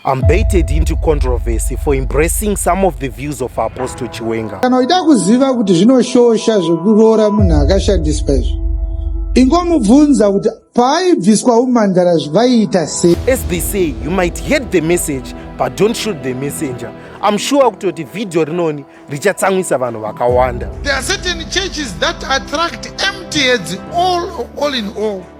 I'm baited into controversy for embracing some of the views of Apostle Chiwenga. Kana uida kuziva kuti zvinoshosha zvekuroora munhu akashandiswa izvi, ingomubvunza kuti paaibviswa umandara zvaiita sei. As they say, you might hate the message but don't shoot the messenger. I'm sure kutoti video rinoni richatsamwisa vanhu vakawanda. There are certain churches that attract empty heads all, all in all.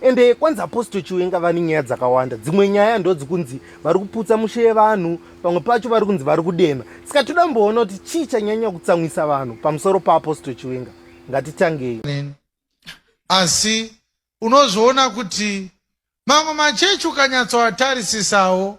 ende kwanzi apostle chiwenga vane nyaya dzakawanda dzimwe nyaya ndodzikunzi vari kuputsa mushe yevanhu pamwe pacho vari kunzi vari kudema saka toda kumboona kuti chii chanyanya kutsamwisa vanhu pamusoro paapostle chiwenga ngatitangei asi unozoona kuti mamwe machechi ukanyatsoatarisisawo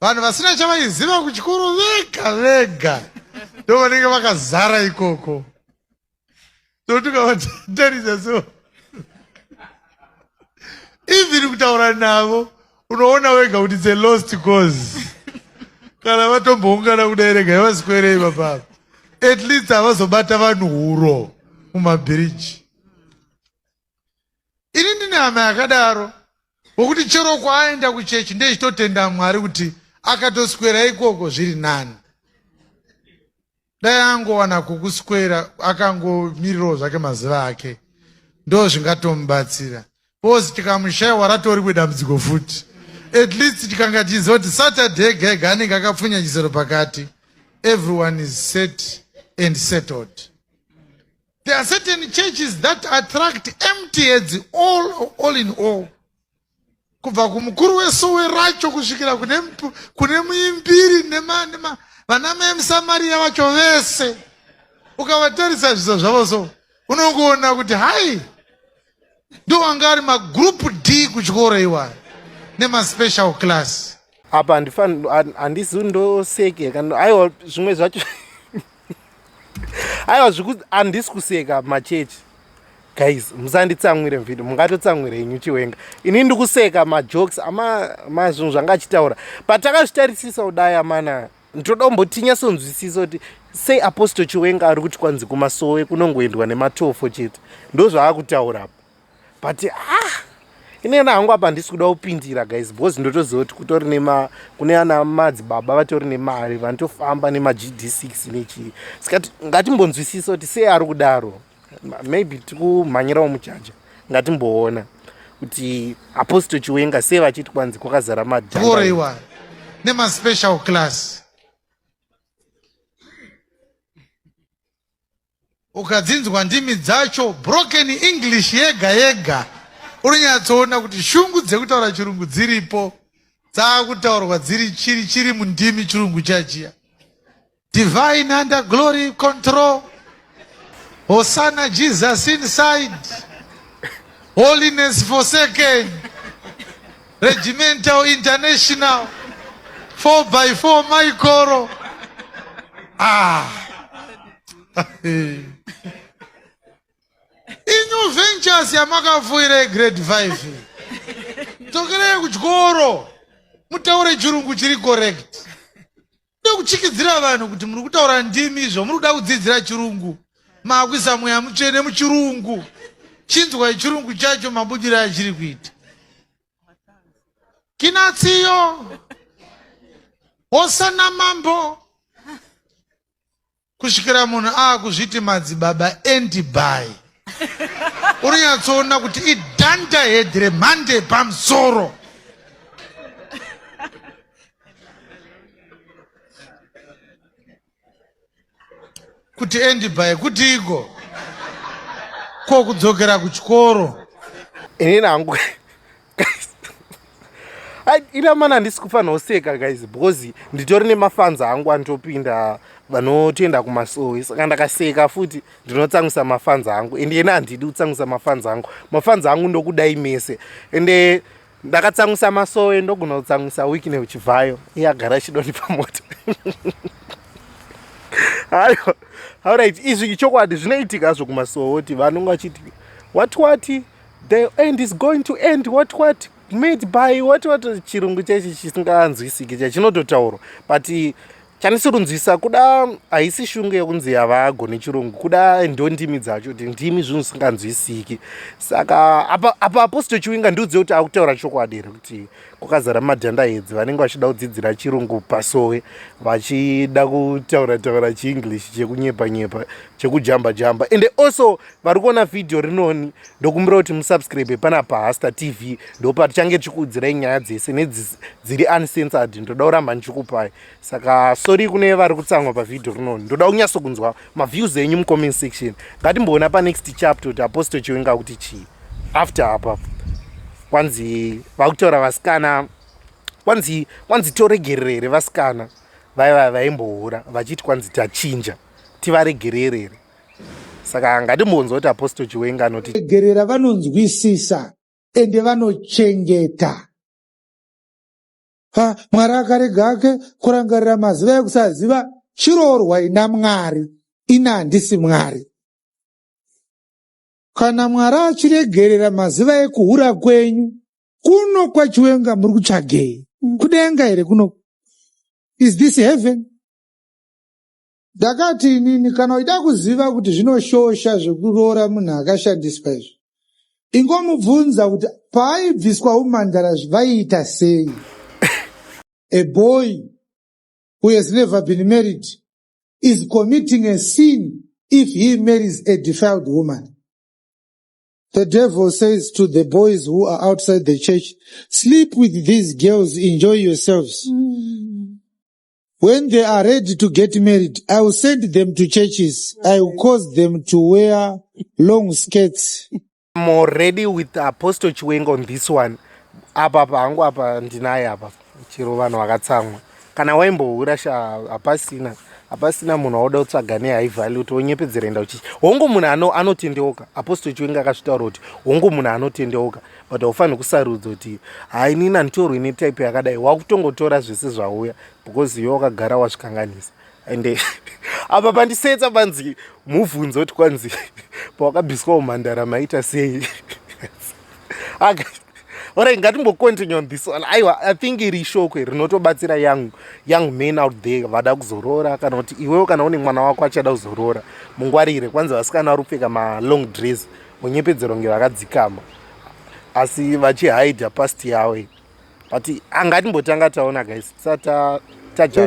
vanhu vasina chavaiziva kuchikoro vega vega ndo vanenge vakazara ikoko totukavatarisa so even kutaura navo unoona wega kuti the lost cause kana vatomboungana kudai rega yavaswerei vapapa at least havazobata vanhu huro mumabhiriji ini ndine hama yakadaro wokuti chero kwaaenda kuchechi ndechitotenda mwari kuti akatoswera ikoko zviri nani dai angowana kukuswera akangomirirawo zvake mazuva ake ndo zvingatomubatsira bcause tikamushaiwa ratori kwedambudziko futi at least tikanga tichiziva kuti saturday gega anenge akapfunya chisero pakati everyone is set and settled There are certain churches that attract empty heads all, all in all. Kubva kumukuru wesowe racho kusvikira kune muimbiri vana mai musamariya vacho vese ukavatarisa zviso zvavo so unongoona kuti hai ndo anga ari magroup d kuchikoro iwayo nemaspecial class apa handifani handisi ndoseke kana aiwa zvimwe zvacho aiwa zviku handisi kuseka machechi guys musanditsamwire mvidi mungatotsamwire inyu chiwenga ini ndikuseka majokes amazvinhu zvanga achitaura but takazvitarisisa kudai amana ndoda kumbotinyasonzwisisa kuti sei apostle chiwenga ari kuti kwanzi kumasowe kunongoendwa nematofo chete ndozvaakutaura apa but ah inena hangu apa handisi kuda kupindira guys because ndotoziva kuti kutori nema kune ana madzibaba vatori nemari vanotofamba nemagd six nechii saka ngatimbonzwisisa kuti sei ari kudaro maybe tikumhanyirawo mujaja ngatimboona kuti apostle chiwenga sei vachiti kwanzi kwakazara madhaiwa nemaspecial class ukadzinzwa ndimi dzacho broken english yega yega unonyatsoona kuti shungu dzekutaura chirungu dziripo dzaakutaurwa dziri chiri chiri mundimi chirungu chajiya Divine under glory control. Hosanna Jesus inside. Holiness forsaken. Regimental international. 4 by 4 Michael. Ah. Inyu ventures yamakafuira grade 5. Tokerei kuchikoro. Mutaure chirungu chiri correct. Kuda kuchikidzira vanhu kuti muri kutaura ndimi izvo muri kuda kudzidzira chirungu maakuisa mweya mutsvene muchirungu chinzwai chirungu chacho mabudiro achiri kuita kinatsiyo hosana mambo kusvikira munhu aakuzviti madzibaba endibai unonyatsoona kuti idhanda hedhi remhande yepamusoro kuti endibai kutiiko ko kudzokera kuchikoro inini hangu ina mana handisi kufanira kuseka guys because nditori nemafans angu anotopinda vanotoenda kumasowe saka ndakaseka futi ndinotsangusa mafans angu and ena handidi kutsangusa mafans angu mafans angu ndokudai mese ende ndakatsangusa masowe ndogona kutsangusa wiki neuchibvayo iye agara achidoni pamota hayo auright izvi ichokwadi zvinoitika zvokumasowe kuti vanonge vachiti wati wati the end is going to end what what made by what what chirungu chechi chisinganzwisiki chachinototaurwa but chanisirinzwisa kuda haisi shungu yekunzi yavago nechirungu kuda ndo ndimi dzacho kuti ndimi zvinhu zvisinganzwisiki saka apa apa apostle chiwinga ndiudze kuti akutaura chokwadi here kuti kwakazara madhanda edzi vanenge vachida kudzidzira chirungu pasowe vachida kutaura taura chienglish chekunyepa nyepa chekujamba jamba ende also vari kuona vhidhiyo rinoni ndokumbira kuti musubscribe pana pahasta tv ndopa tichange tichikuudzirai nyaya dzese nedziri uncensored ndoda kuramba ndichikupai saka sori kune vari kutsamwa pavhidhiyo rinoni ndoda kunyatso kunzwa maviews enyu mucomment section ngatimboona panext chapter kuti apostle chiwenga kuti chii after apa kwanzi vakutaura vasikana kwanzi kwanzi toregerere here vasikana vaiva vaimbohura vachiti kwanzi tachinja tivaregerere here saka ngatimbonzwa kuti apostle chiwenga anoti regerera vanonzwisisa ende vanochengeta ha mwari akarega ake kurangarira maziva ekusaziva chiroorwa ina mwari ina handisi mwari kana mwari achiregerera maziva ekuhura kwenyu kuno kwachiwenga muri kutsvagei kudenga here kuno is this heaven Ndakati inini kana uchida kuziva kuti zvinoshosha zvekuroora munhu akashandiswa izvi ingomubvunza kuti paaibviswa umhandara vaiita sei a boy who has never been married is committing a sin if he marries a defiled woman The devil says to the boys who are outside the church, sleep with these girls, enjoy yourselves. Mm. When they are ready to get married, I will send them to churches. I will cause them to wear long skirts. I'm already with Apostle Chiwenga on this one. Apa apa hangu apa ndinaye apa chero vanhu vakatsamwa kana waimbohura sha hapasina hapasina munhu waoda kutsvaga nehigh value kuti wonyepedzera enda uchichi hongu munhu ano, anotendeuka Apostle Chiwenga akazvitaura kuti hongu munhu anotendeuka but haufanirwi kusarudza kuti hai nini handitorwi ine type yakadai wakutongotora zvese zvauya because iwe wakagara wazvikanganisa and apa pandisetsa panzi mubvunzo kuti kwanzi pawakabviswa umhandara maita sei orai ngatimbocontinue on this one aiwa i think iri shokwe rinotobatsira young, young man out there vada kuzoroora kana kuti iwewo kana une mwana wako achada kuzoroora mungwarire kwanzi vasikana vari kupfeka malong dress munyepedzero kunge vakadzikama asi vachihidha past yavo iyi but angatimbotanga taona guys tisata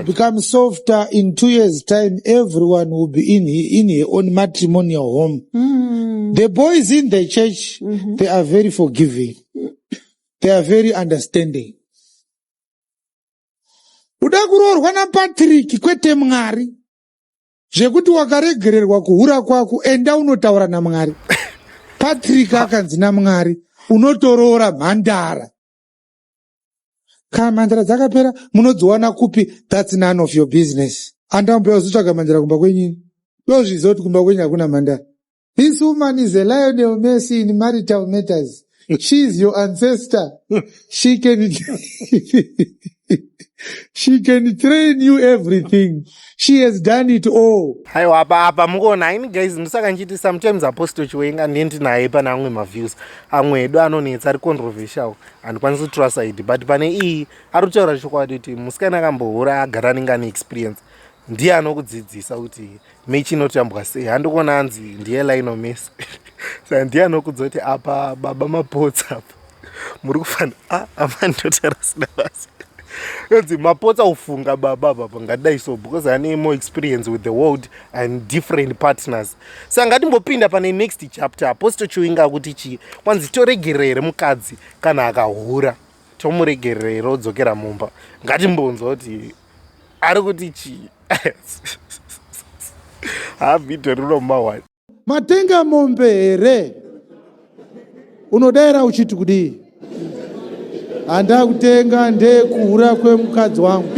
become softer in two years time everyone will be in, in her own matrimonial home mm. the boys in the church mm -hmm. they are very forgiving they are very understanding uda kuroorwa napatrick kwete mwari zvekuti wakaregererwa kuhura kwako enda unotaura namwari patrick akanzi namwari unotoroora mhandara kana mhandara dzakapera munodziwana kupi thats none of your business andamupea uzotsvaga mhandara kumba kwenyini dozviziva kuti kumba kwenyu hakuna mhandara This woman is a Lionel Messi in marital matters. She is your ancestor. She can, she can train you everything. She has done it all. Haiwa apa apa mukuona haimi guys ndosaka ndichiti sometimes apostle chiwenga ndiye ndinaye pane amwe maviews amwe edu anonetsa ari controversial handikwanisi kutura side but pane iyi ari kutaura chokwadi kuti musikana akambohura agara anenge ane experience ndiye anokudzidzisa kuti Michi inotambwa sei handikuona hanzi ndiye lainomisa sa ndiye anokudza kuti apa baba mapotsa apa muri kufana ah, amani ndotarasina basa nonzi mapotsa ufunga baba baba ngadai so because ane more experience with the world and different partners sa ngatimbopinda pane next chapter apo sitochiwinga akuti chii kwanzi toregerera here mukadzi kana akahura tomuregerera here odzokera mumba ngatimbonzwa kuti ari kuti chii havhidho rino mawani matenga mombe here unodaira uchiti kudii handakutenga ndekuhura kwemukadzi wangu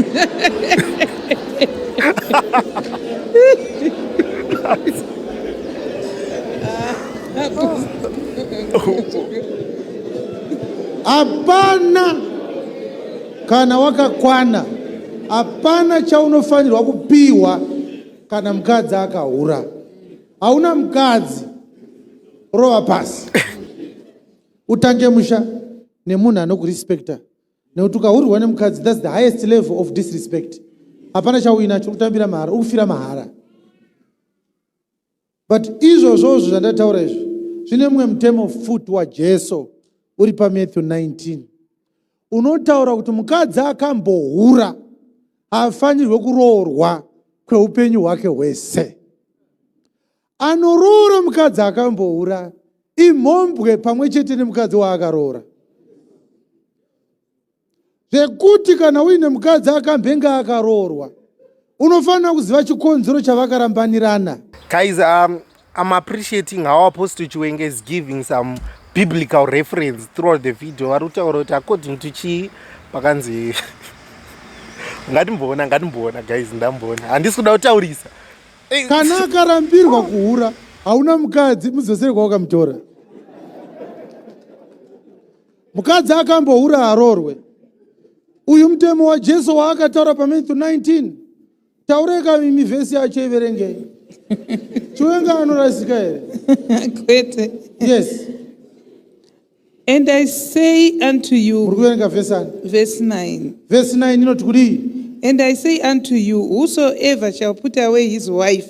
hapana Kana wakakwana hapana chaunofanirwa kupiwa kana mukadzi akahura. Hauna mukadzi rova pasi utange musha nemunhu anokurespecta nekuti ukahurwa nemukadzi thats the highest level of disrespect hapana chauinacho kutambira mahara ukufira mahara But izvozvo zvandataura izvo zvine mumwe mutemo futi waJesu uri paMatthew 19 unotaura kuti mukadzi akambohura haafanirwe kuroorwa kweupenyu hwake hwese. Anoroora mukadzi akambohura imhombwe pamwe chete nemukadzi waakaroora. zvekuti kana uine mukadzi akamhenge akaroorwa unofanira kuziva chikonzero chavakarambanirana guys um, i'm appreciating how apostle chiwenge is giving some biblical reference throughout the video vari kutaura kuti according to chii pakanzi ngatimboona ngatimboona guys ndamboona handisi kuda kutaurisa eh, kana akarambirwa kuhura hauna mukadzi mudzosere kwawakamutora Mukadzi akambohura haroorwe. Uyu mutemo waJesu waakataura paMathew 19. Taurai kaimi vhesi yacho iverengei. Chiwenga anorasika here? Kwete. Yes. And I say unto Muri you, kuverenga vhesi ani? verse 9. Vhesi 9 inoti kudii? And I say unto you, whosoever shall put away his wife,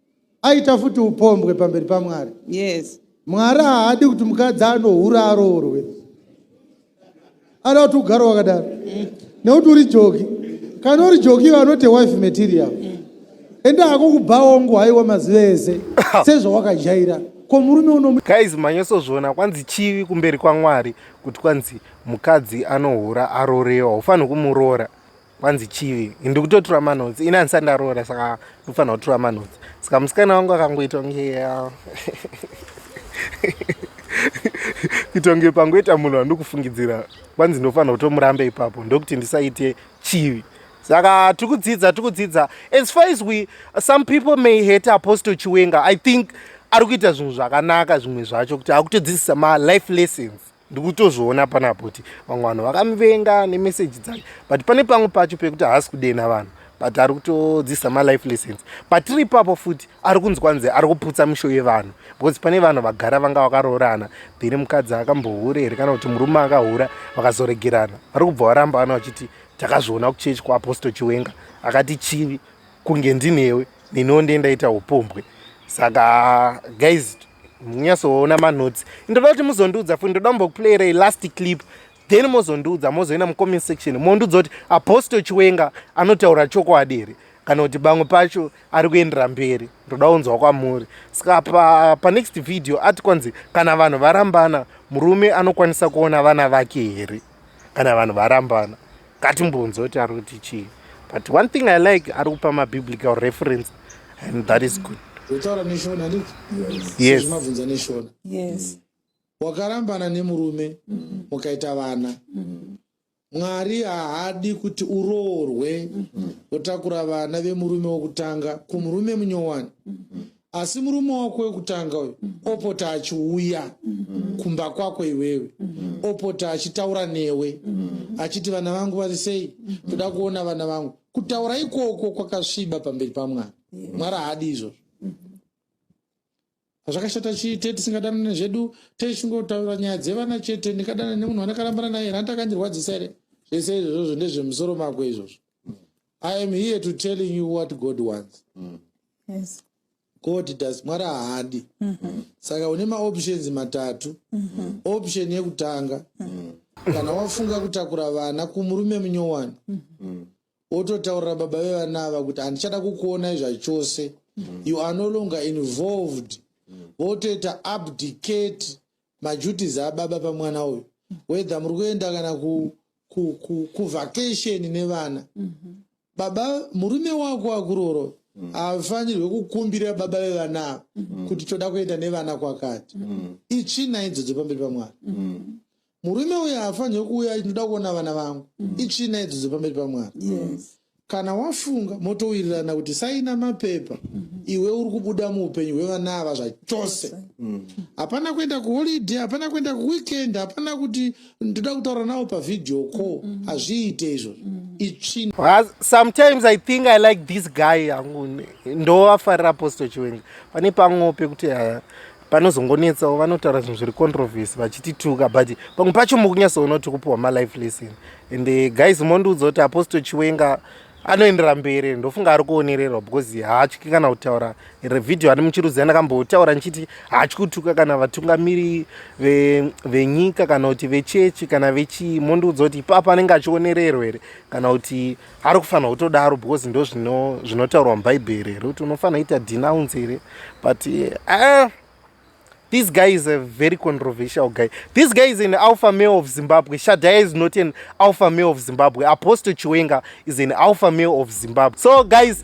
aita futi upombwe pamberi pamwari yes mwari haadi kuti mukadzi anohura aroorwe anoda kuti ugare wakadaro mm. nekuti uri joki kana uri joki iwe anote wife material mm. ende hako kubhaongo haiwa mazuva ese sezvawakajaira ko murume uno guys manyosozviona kwanzi chivi kumberi kwamwari kuti kwanzi mukadzi anohura arorewa haufanhi kumuroora kwanzi chivi ndikutotura manotsi ini andisati ndaroora saka ndofanira kutura manotsi saka musikana wangu akangoita kunge kuita kunge pangoita munhu wandikufungidzira kwanzi ndofanira kutomurambe ipapo ndokuti ndisaite chivi saka tiri kudzidza tiri kudzidza as far as we some people may hate apostle chiwenga i think ari kuita zvinhu zvakanaka zvimwe zvacho kuti akutodzidzisa malife lessons ndikutozviona panapo kuti vamwe vanhu vakamuvenga nemeseji dzake but pane pamwe pacho pekuti haasi kudena vanhu but ari kutodzisa malife lessons patiri ipapo futi ari kunzwa nze ari kuputsa misho yevanhu because pane vanhu vagara vanga vakaroorana then mukadzi akambohure here kana kuti murume akahura vakazoregerana vari kubva varamba vana vachiti takazviona kuchechi kuaposto chiwenga akati chivi kunge ndinewe neniwo ndiye ndaita upombwe saka guys nyatsoona manotes ndoda kuti muzondiudza futi ndoda mbokuplayirai last clip then mozondiudza mozoenda mucomment section mondiudza kuti apostle chiwenga anotaura chokwadi here kana kuti pamwe pacho ari kuendera mberi ndoda kunzwa kwamuri saka pa, pa next video ati kwanzi kana vanhu varambana murume anokwanisa kuona vana vake here kana vanhu varambana ngatimbonzwa kuti ari kuti chii but one thing i like ari kupa mabiblical reference and that is good utaura neshona ndi yes zvimabvunza neshona yes wakarambana nemurume mukaita vana mwari haadi kuti uroorwe wotakura vana vemurume wokutanga kumurume munyowani asi murume wako wekutanga uyu mm. opota achiuya mm. kumba kwako iwewe mm. opota achitaura newe achiti vana vangu vari sei toda kuona vana vangu kutaura ikoko kwakasviba pamberi pamwana mwari haadi izvozvo hazvakashata chite tisingadanane zvedu teichingotaura nyaya dzevana chete ndikadana nemunhu andakarambana naye handakandirwadzisa here zvese izvozvo ndezvemusoro mako izvozvo I am here to telling you what God wants. Mm. Yes. God does mwari haadi mm -hmm. saka une maoptions matatu mm -hmm. option yekutanga mm -hmm. kana wafunga kutakura vana kumurume munyowani mm -hmm. wototaurira baba vevana ava kuti handichada kukuonai zvachose mm -hmm. you are no longer involved mm -hmm. wotoita abdicate maduties ababa pamwana uyu whether muri kuenda kana kuvacation nevana mhm. baba murume wako akuroro mm. haafanirwe kukumbira baba vevana ava mm. kuti toda kuenda nevana kwakati mm. itsvina idzodzo pamberi pamwana murume uyo haafanirwe kuuya ndinoda kuona vana vangu itsvina idzodzo pamberi pamwana Kana wafunga motowirirana kuti saina mapepa mm -hmm. iwe uri kubuda muupenyu hwevana ava zvachose mm. hapana mm. kuenda kuholiday hapana kuenda kuweekend hapana kuti ndoda kutaura nawo pavhidhiyo ko mm -hmm. hazviite izvo mm. itsvin sometimes i think i like this guy yangu ndovafarira apostle chiwenga pane pamwewo pekuti panozongonetsawo vanotaura zvinhu zviri controversy vachitituka but pamwe pacho mukunyatsoona kuti kupiwa malife lesson and eh, guys mondiudza kuti apostle chiwenga anoendera mberi ndofunga ari kuonererwa because haatyi kana kutaura revhidhiyo ani muchirudzi andakambotaura ndichiti haatyi kutuka kana vatungamiri venyika kana kuti vechechi kana vechii mondiudza kuti ipapa anenge achionererwa here kana kuti ari kufanira kutodaro because ndo zvinotaurwa mubhaibheri here kuti unofanira kuita denounce here but uh, this guy is a very controversial guy this guy is an alpha male of zimbabwe shadaya is not an alpha male of zimbabwe apostle chiwenga is an alpha male of zimbabwe so guys